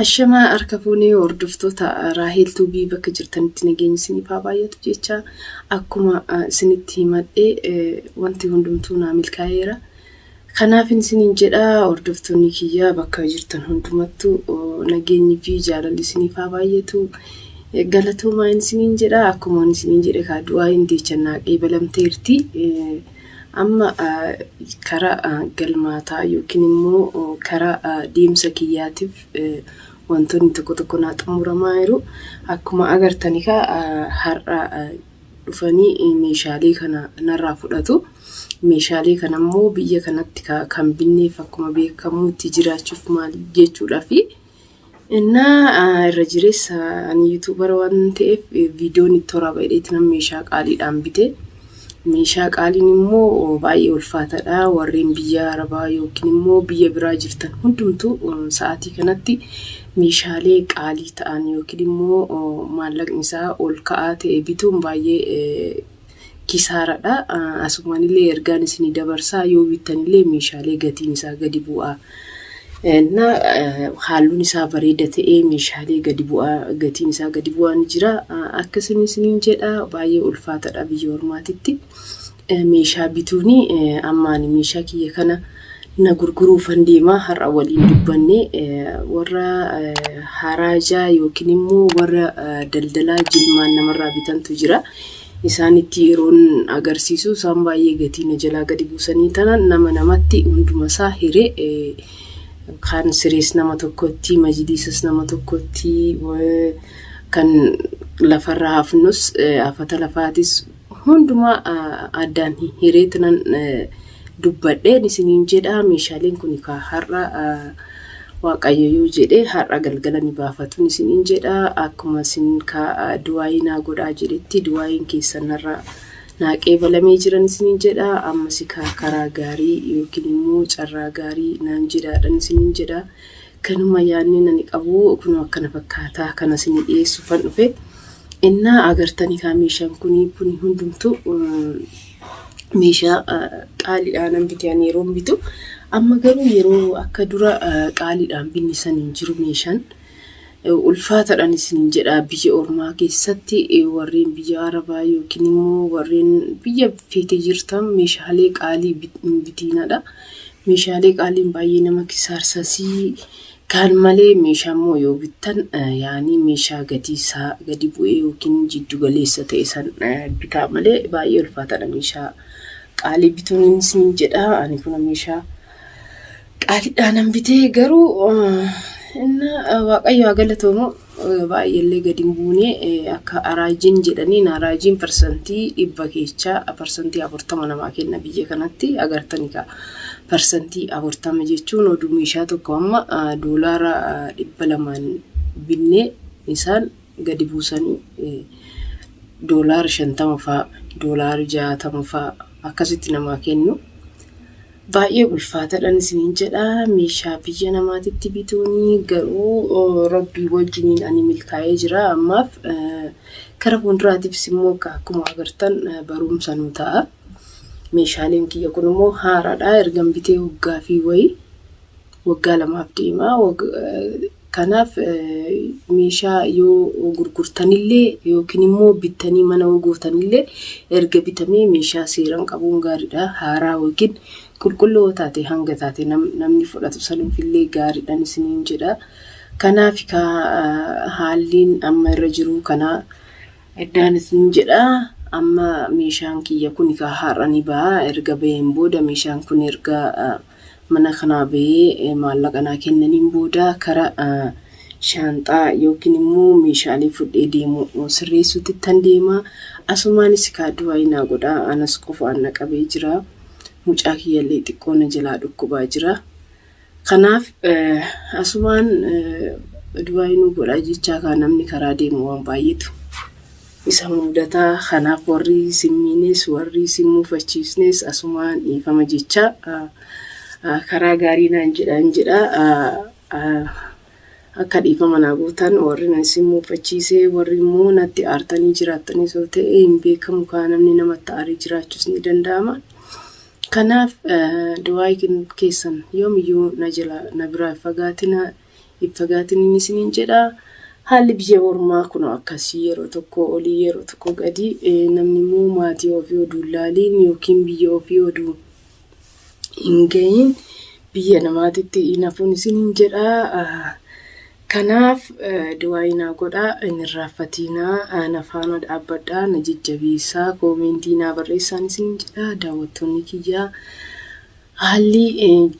Ashamaa harka fuunee hordoftoota Raaheel Tuubii bakka jirtanitti nageenyi isiniif haa baay'atu jecha akkuma isinitti himadhe wanti hundumtuu naa milkaa'eera. Kanaafin isiniin jedha hordoftoonni kiyya bakka jirtan hundumattuu nageenyi fi jaalalli isiniif haa baay'atu. Galatoomaa isiniin jedha akkuma isiniin jedhe kaa du'aa hin deechan naa qeebalamteerti. Amma kara galmaataa yookiin immoo kara deemsa kiyyaatiif wantoonni tokko tokko naa xumuramaa jiru. Akkuma agartan egaa har'a dhufanii meeshaalee kana narraa fudhatu. Meeshaalee kana immoo biyya kanatti kan binneef akkuma beekamuutti jiraachuuf maal jechuudhaafi Innaa irra jireessa ani yuutuubara waan ta'eef viidiyoon itti waraaba jedheeti nan meeshaa qaaliidhaan bite. Meeshaa qaaliin immoo baay'ee ulfaataadha. Warreen biyya Arabaa yookiin immoo biyya biraa jirtan hundumtu sa'aatii kanatti meeshaalee qaalii ta'an yookiin immoo maallaqni isaa ol ka'aa ta'e bituun baay'ee kisaaradha. Asumaanillee ergaan isinii dabarsaa yoo bittanillee meeshaalee gatiin isaa gadi bu'aa na haalluun isaa bareeda ta'ee meeshaalee gadi bu'aa gatiin isaa gadi bu'aa ni jira. Akka isin isiniin jedha baay'ee ulfaatadha biyya ormaatitti meeshaa bituuni ammaani meeshaa kiyya kana na gurguruufan deema har'a waliin dubbanne warra haraajaa yookiin immoo warra daldalaa jilmaan namarraa bitantu jira. Isaanitti yeroon agarsiisu isaan baay'ee gatii na jalaa gadi buusanii tanan nama namatti hundumasaa hire kan sirees nama tokkotti majiliisas nama tokkotti kan lafarra hafnus afata lafaatis Hundumaa addaan hireetinan dubbadheen isiniin jedha meeshaaleen kun kaa har'a waaqayyo yoo jedhe har'a galgala ni baafatun isiniin jedha akkuma isin kaa duwaayii naa godhaa jedhetti duwaayiin keessan narra naa qeebalamee jiran isiniin jedha ammasi kaa karaa gaarii yookiin immoo carraa gaarii naan jedhaadhan isiniin jedha Kanuma yaadniin ani qabu kunoo akkana fakkaata kana isinii dhiyeessuufan dhufe. Innaa agartan egaa meeshaan kuni kuni hundumtu meeshaa qaaliidhaan nan bite ani yeroon bitu. Amma garuu yeroo akka dura qaaliidhaan binni san hin jiru meeshaan. Ulfaataadhaan isiniin jedha biyya ormaa keessatti warreen biyya arabaa yookiin immoo warreen biyya feete jirtan meeshaalee qaalii bitiinaadha. Meeshaalee qaaliin baay'ee nama kisaarsasii kaan malee meeshaa immoo yoo bittan yaanii meeshaa gatii isaa gadi bu'ee yookiin jiddu galeessa ta'e san bitaa malee baay'ee ulfaataadha meeshaa qaalii bituun isiniin jedha ani kuna meeshaa qaaliidhaanan bitee garuu inna waaqayyo haa galatoomu Baay'eellee gadi hin buune akka raajiin jedhaniin raajiin parsantii dhibba keechaa parsantii afurtama namaa kenna biyya kanatti agartani ka parsantii afurtama jechuun oduu meeshaa tokko amma doolaara dhibba lamaan binne isaan gadi buusanii doolaara shantama faa doolaara jaatama faa akkasitti namaa kennu. Baay'ee ulfaatadhan isiniin jedha meeshaa biyya namaatitti bituuni garuu rabbii wajjiniin ani milkaa'ee jira ammaaf kara fuulduraatiifis immoo akka akkuma agartan barumsa nu ta'a. Meeshaaleen kiyya kun immoo haaraadha ergan bitee waggaa fi wayi waggaa lamaaf deema. Kanaaf meeshaa yoo gurgurtanillee yookiin immoo bittanii mana yoo gootanillee erga bitamee meeshaa seeran qabuun gaariidha. Haaraa yookiin qulqulluu yoo taate hanga taate namni fudhatu sanuufillee gaariidhan isiniin jedha. Kanaaf haalliin amma irra jiruu kanaa eddaan isiniin jedha. Amma meeshaan kiyya kun kaa har'a ni ba'a. Erga baheen booda meeshaan kun erga mana kanaa bahee maallaqa naa kennaniin booda kara shaanxaa yookiin immoo meeshaalee fudhee deemu sirreessuutti tan deema asumaanis ekaa du'aayii naa godhaa anas qofaan na qabee jira mucaa kiyyallee xiqqoo na jalaa dhukkubaa jira kanaaf asumaan du'aayii nuu godhaa jechaa kaa namni karaa deemu waan baay'eetu Isa mudataa kanaaf warri isin miines warri isin mufachiisnes asumaan dhiifama jechaa karaa gaarii naan jedhaan jedha akka dhiifama naa gootan warri nan isin mufachiise warri immoo natti aartanii jiraattanis yoo ta'e hin beekamu kaa namni namatti aaree jiraachuus ni danda'ama. Kanaaf du'aayi keessan yoomiyyuu na jala na biraa hin fagaatina Hin fagaatiniin isiniin jedha. Haalli biyya ormaa kunoo akkasii yeroo tokko olii yeroo tokko gadi namni immoo maatii ofii oduu hin laaliin yookiin biyya ofii oduu hin gahiin biyya namaatitti hin hafuun isiniin jedha. Kanaaf du'aayii naa godhaa hin irraanfatiinaa na faana dhaabbadhaa na jajjabeessaa koomeentii naa barreessaan isiniin jedha daawwattoonni kiyyaa. Haalli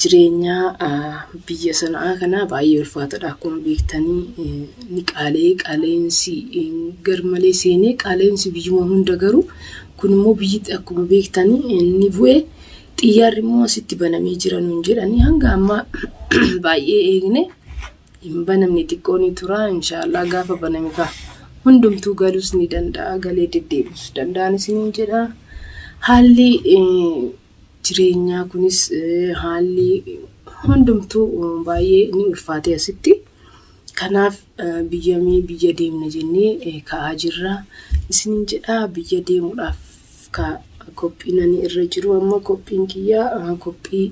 jireenyaa biyya Sana'aa kanaa baay'ee ulfaatadha. Akkuma beektanii ni qaalee qaala'insi garmalee seenee qaala'insi biyyuma hunda garuu kun immoo biyyitti akkuma beektanii inni bu'e xiyyaarri immoo asitti banamee jira nuun jedhanii hanga ammaa baay'ee eegne hin banamne xiqqoo ni tura inshaallah gaafa baname kaa hundumtuu galuus ni danda'a galee deddeebi'us danda'an isiniin jedha haalli jireenyaa kunis haalli hundumtuu baay'ee ni ulfaatee asitti. Kanaaf biyyamii biyya deemna jennee ka'aa jirra. Isiniin jedhaa biyya deemuudhaaf ka qophiin ani irra jiru amma qophiin kiyya qophii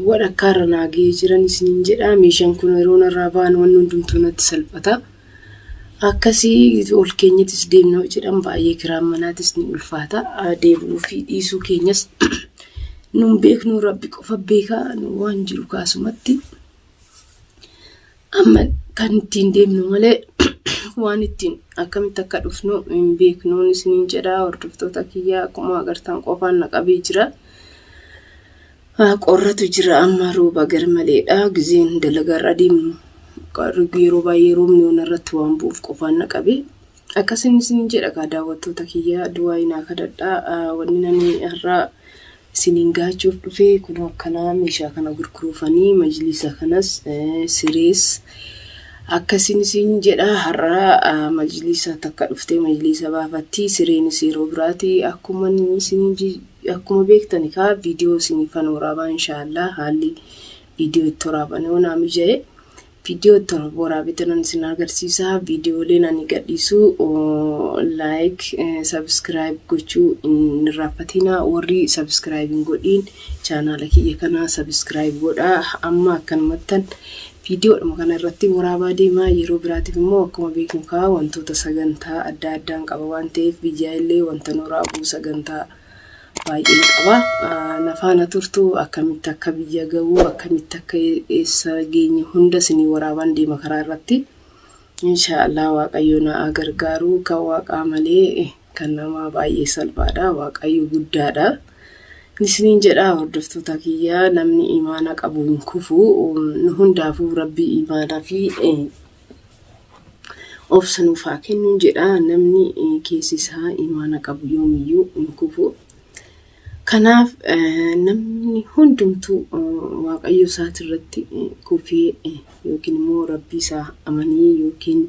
walakkaarra naa ga'ee jiran isiniin jedhaa meeshaan kun yeroo narraa ba'an wanni hundumtuu natti salphata. Akkasii ol keenyatis deemna yoo jedhan baay'ee kiraan manaatis ni ulfaata. Deebi'uu fi dhiisuu keenyas nun beeknu rabbi qofa beeka nu waan jiru kaasumatti. Amma kan ittiin deemnu malee waan ittiin akkamitti akka dhufnu hin beeknuun isiniin jedha hordoftoota kiyyaa akkuma agartan qofaan na qabee jira. Haa qorratu jira amma rooba garmaleedha gizeen dalagarra deemu yeroo baay'ee roobni ona irratti waan bu'uuf qofaan na qabe akkasin isin jedha kaa daawwattoota kiyya du'aayi naa kadhadha wanni nani har'aa isiniin gaachuuf dhufe kunoo akkanaa meeshaa kana gurguruufanii majliisa kanas sirees akkasin isin jedha har'aa majliisa takka dhuftee majliisa baafattii sireenis yeroo biraati akkuman isin Akkuma beektani kaa viidiyoo isiniifan waraabaa inshaallah haalli viidiyoo itti waraaban yoo naa mijaye viidiyoo itti waraabetanan isin agarsiisa viidiyooleen ani gadhiisu laayik sabiskiraayib gochuu hin irraaffatina warri sabiskiraayib hin godhiin chaanaala kiyya kana sabiskiraayib godhaa amma akkanumattan Viidiyoodhuma kana irratti waraabaa deemaa yeroo biraatiif immoo akkuma beeknu kaa wantoota sagantaa adda addaan qaba waan ta'eef biyyaa illee wanta nu raabuu sagantaa baay'een qaba. Na faana turtu akkamitti akka biyya ga'uu akkamitti akka eessa geenye hunda isinii waraabaan deema karaa irratti. Inshaa Allah waaqayyoo na haa gargaaru kan waaqaa malee kan namaa baay'ee salphaadha waaqayyo guddaadha isiniin jedhaa hordoftoota kiyyaa namni imaana qabu hin kufu nu hundaafuu rabbii imaanaa fi obsa nuuf haa kennuun jedha namni keessi isaa imaana qabu yoomiyyuu hin kufu kanaaf namni hundumtuu waaqayyo isaati irratti kufee yookiin immoo rabbii isaa amanii yookiin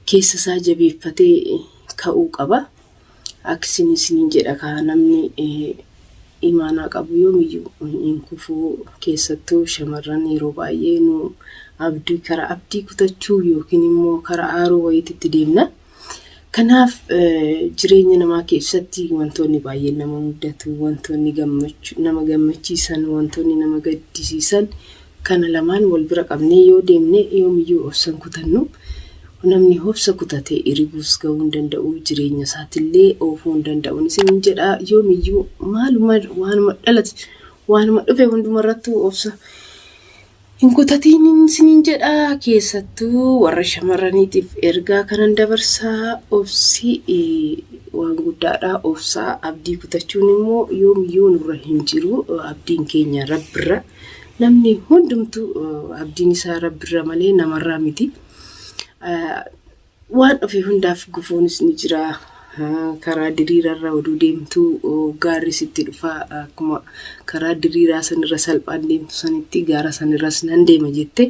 keessa isaa jabeeffatee ka'uu qaba. Akkasin isiniin jedha kaa namni imaanaa qabu yoomiyyuu hin kufuu keessattuu shamarran yeroo baay'ee nu abdii kara abdii kutachuu yookiin immoo kara aaruu wayititti deemna. Kanaaf jireenya namaa keessatti wantoonni baay'een nama mudatu, wantoonni nama gammachiisan, wantoonni nama gaddisiisan Kana lamaan wal bira qabnee yoo deemne yoomiyyuu obsa hin kutannu. Namni obsa kutate iribuus gahuu hin danda'u, jireenya isaatillee oofuu hin danda'un isiniin jedha. Yoomiyyuu maaluma waanuma dhalate waanuma dhufe hundumarrattuu obsa hin kutatiin isiniin jedha. Keessattuu warra shamarraniitiif ergaa kanan dabarsaa obsi waan guddaadha. Obsaa abdii kutachuun immoo yoomiyyuu nurra hin jiru. Abdiin keenya rabbirra. Namni hundumtu abdiin isaa rabbirra malee namarraa miti. Waan ofii hundaaf gufuunis ni jira. Karaa diriirarra oduu deemtu gaarri sitti dhufa. Akkuma karaa diriiraa sanirra salphaan deemtu sanitti gaara sanirras nan deema jette.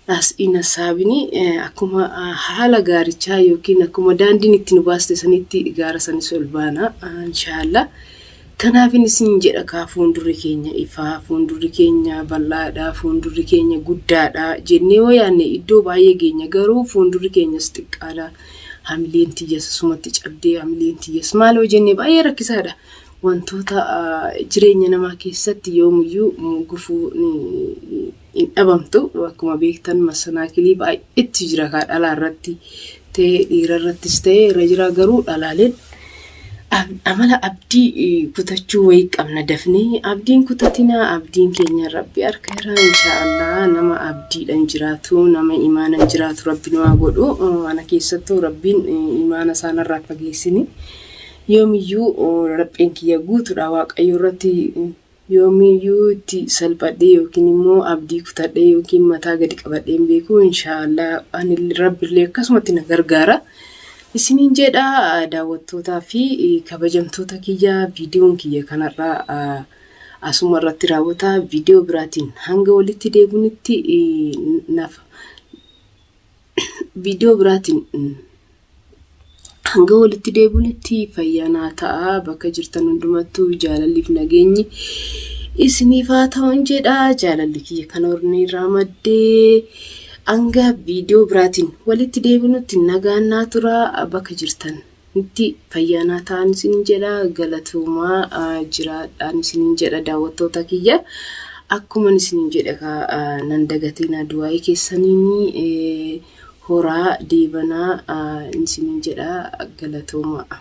As in Assaabini akkuma haala gaarichaa yookiin akkuma daandiin itti nu baaste sanitti gaara sanis ol baana inshaallah. Kanaafin isin jedha kaa fuundurri keenya ifaa, fuundurri keenya bal'aadha, fuundurri keenya guddaadha jennee yoo yaanne iddoo baay'ee geenya garuu fuundurri keenyas xiqqaadha. Hamileen tiyyas sumatti cabdee hamileen tiyyas maaloo jennee baay'ee rakkisaadha. Wantoota jireenya namaa keessatti yoomuyyuu gufuu ni hin dhabamtu akkuma beektan masanaakilii baay'eetti jira kaa dhalaa irratti ta'ee dhiira irrattis ta'ee irra jira garuu dhalaaleen ab- amala abdii eh, kutachuu wayii qabna dafnee abdiin kutatinaa abdiin keenya rabbi harka irraa inshaallah nama abdiidhan jiraatu nama imaanan jiraatu rabbi nu haa godhu Eh, ana keessattuu rabbiin eh, imaana isaanirraa fageessini yoomiyyuu oh, lapheen kiyya guutuudha waaqayyo irratti eh, Yoomiyyuu itti salphadhee yookiin immoo abdii kutadhee yookiin mataa gadi qabadhee hin beeku. Insha'Allah ani Rabbillee akkasumatti na gargaara. Isiniin jedha daawwattootaa fi kabajamtoota kiyya viidiyoon kiyya kanarraa asuma irratti raawwata. Viidiyoo biraatiin hanga walitti deebinutti naaf viidiyoo biraatiin Hanga walitti deebinutti fayyaa naa ta'a. Bakka jirtan hundumattuu jaalalliif nageenyi isiniif haa ta'uun jedha. Jaalalli kiyya kan hornee irraa maddee hanga viidiyoo biraatiin walitti deebinutti nagaan naa tura. Bakka jirtan itti fayyaa naa ta'an isiniin jedha. Galatoomaa ah, jiraadhaan isiniin jedha daawwattoota kiyya. Akkuman isiniin jedhe kaa ah, nan dagatinaa du'aa'ii keessaniin. eh, horaa deebanaa isiniin jedha galatoomaa.